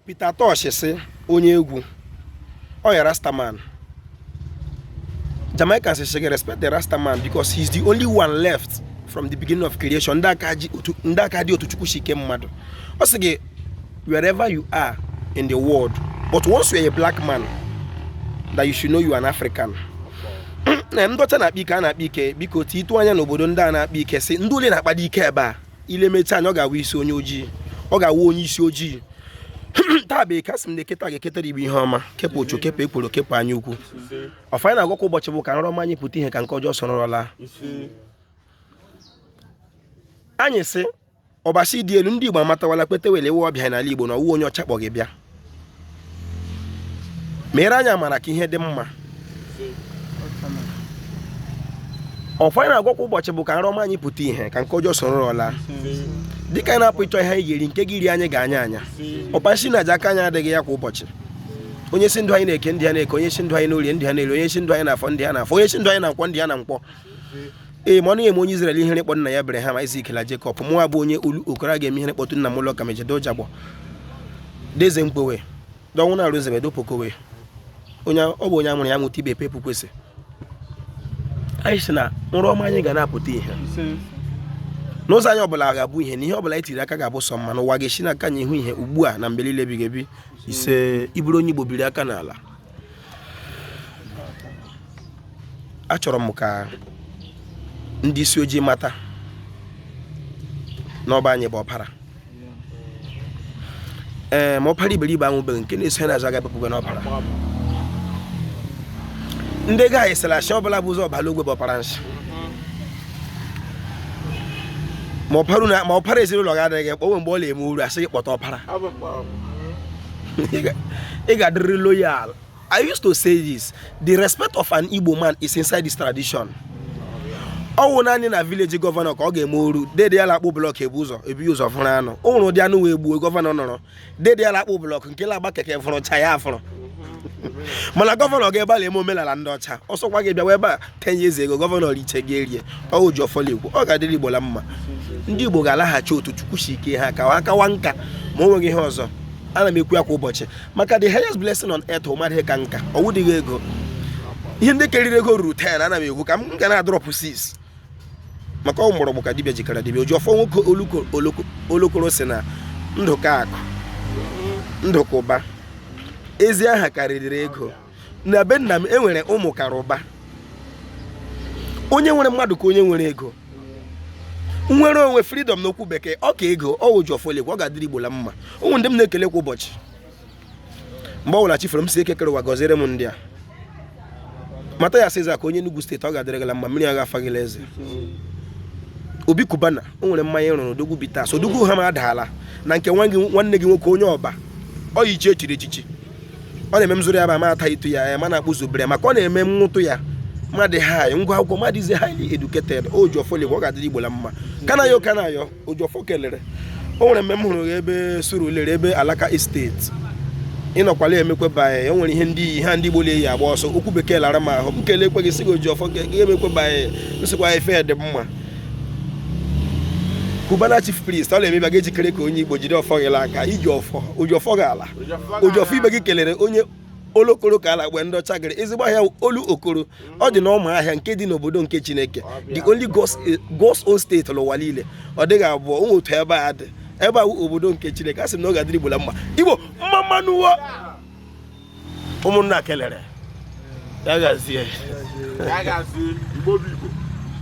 Peter Tosh sị onye egwu ọ ya Rastaman Jamaican sị gị respect the Rastaman because he is the only one left from the beginning of creation ndị a ka dị otu Chukwu si kee mmadụ ọ sị gị wherever you are in the world but once you are a black man that you should know you are an African na ndị ọcha na-akpa ike a na-akpa ike biko titụ anya n'obodo ndị a na-akpa ike si ndị ole na-akpadị ike ebe a i lemeta anya ọ ga-awụ isi onye ojii ọ ga-awụ onye isi ojii taa bụ Eke a sị m na Eke taa ga-eketara Igbo ihe ọma kepụ ọchụ kepụ ekworo kepụ anya ukwu ọfọ anyị na-agọ kwa ụbọchị bụ ka nrọ ọma anyị pụta ihe ka nke ọjọọ soro nrọ laa anyị sị Ọbasi dị elu ndị Igbo amatawala kwetawala ị wụ ọbịa n'ala Igbo na ọ wụ onye ọcha kpọ gị bịa meere anyị amara ka ihe dị mma ọfọ anyị na-agọ kwa ụbọchị bụ ka nrọ ọma anyị pụta ihe ka nke ọjọọ soro nrọ laa dịka anyị na-apụ ịchọ ihe anyị ga-eri nke ga-eri anyị gaa anya anya ọkpa nsi na aja aka anyị adịghị ya kwa ụbọchị onye sị ndụ anyị n'Eke ndụ ya n'Eke onye sị ndụ anyị n'Orie ndụ ya n'Orie onye sị ndụ anyị n'Afọ ndụ ya n'Afọ onye sị ndụ anyị na Nkwọ ndụ ya na Nkwọ ee ma ọ dịghị eme onye Izrel ihere ịkpọ nna ya Abraham Isak na Jekọb mụwa bụ onye Olokoro a ga-eme ihere ịkpọtụ nna m ụlọ ka mejedo jagbọ deze mkpowe dọnwụ na arụzebe dopokowe onye ọ bụ onye a mụrụ ya mụta ibe pepu kwesị anyị sị na nrọ ọma anyị ga na-apụta ihe na ụzọ anyị ọbụla ga-abụ ihe na ihe ọbụla anyị tiri aka ga-abụ sọ mma na ụwa ga-esi n'aka anyị hụ ihe ugbu a na mgbe niile ebighị ebi isee ị bụrụ onye Igbo biri aka n'ala achọrọ m ka ndị isi ojii mata na ọ bụ anyị bụ ọpara ee ma ọpara iberibe anwụbeghị nke na-eso ya n'azụ aga bepụgo n'ọpara ndị nga anyị sị la nsị ọbụla bu ụzọ baa la ogwe bụ ọpara nsị ma ọpara ezinụlọ gị adịghị mkpa o nwe mgbe ọ na-eme uru a sị gị kpọta ọpara ị ga-adịrị loyal I used to say this the respect of an Igbo man is inside this tradition ọ wụ naanị na village gọvanọ ka ọ ga-eme o ru dede ya la-akpụ blọk ebu ụzọ ebu ụzọ vuru anụ o nwere ụdị anụ e gbuo gọvanọ nọrọ dede ya la-akpụ blọk nke la-agba keke vuruchaa ya evuru mana gọvanọ gaa ebe a la-eme omenala ndị ọcha ọ sọkwa gị bịawa ebe a 10 years ago gọvanọ richee gị erie ọ wụ oji ọfọ na-ekwu ọ ga-adịrị Igbo na mma ndị Igbo ga-alaghachi otu Chukwu si kee ha ka ha kawa nka ma o nweghị ihe ọzọ ana m ekwu ya kwa ụbọchị maka the highest blessing on earth wụ mmadụ ịka nka ọ wụdịghị ego ihe ndị karịrị ego ruru 10 ana m ekwu ka m ga na-adrọpụ 6 maka ọ mgbọrọgwụ ka dibịa ji kara dibịa oji ọfọ nwoke Olokoro sị na ndụ ka akụ ndụ ka ụba ezi aha karịrị ego na be nna m e nwere ụmụ kara ụba onye nwere mmadụ ka onye nwere ego inwere onwe freedom n'okwu bekee ọ ka ego ọ wụ ojiọfọ lekwa ọ ga-adịrị igbo la mma o nwere ndị m na-ekele kwa ụbọchị mgbe ọ bụla chi foro m sị eke kere ụwa gọziere m ndị a Mathias Ezeaku onye Enugu steeti ọ ga-adịrị gị la mma mmiri agaghị afa gị la eze Obi Cubana o nwere mmanya ị rụrụ odogwu bitters odogwu hammer daalụ na nke nwanne gị nwoke onye ọba ọ yi ichie e chiri echichi ọ na-eme m zụrụ ya bụ ama ata itu ya ya ma na-akpụ zubere maka ọ na-eme nwụtụ ya mmadụ haị ngwa akwụkwọ mmadụ he's highly educated ojiọfọ lekwa ọ ga-adịrị igbo la mma kanayo kanayo ojiọfọ kelere o nwere mgbe m hụrụ ya ebe Surulere ebe Alaka Estate ị nọkwa la emekwe banye o nwere ihe ndị i yi ha ndị igbo na-eyi agba ọsọ okwu bekee lara m ahụ m kelekwe gị sị gị ojiọfọ ka ihe emekwe banye nsịkwa ife dị mma Cubana chief priest ọ na-eme ị ga-ejikere ka onye igbo jide ọfọ gị aka ji ọfọ oji ọfọ ga-ala ojiọfọ ibe gị kelere onye olokoro ka a na-agba ndị ọcha gịrị ezigbo ahịa olokoro ọ dị n'Ụmụahịa nke dị n'obodo nke chineke the only God's own state n'ụwa niile ọ dịghị abụọ o nwere otu ebe a dị ebe a obodo nke chineke a sị m na ọ ga-adịrị igbo la mma igbo mma mma nụ o ụmụnna kelere ya gazie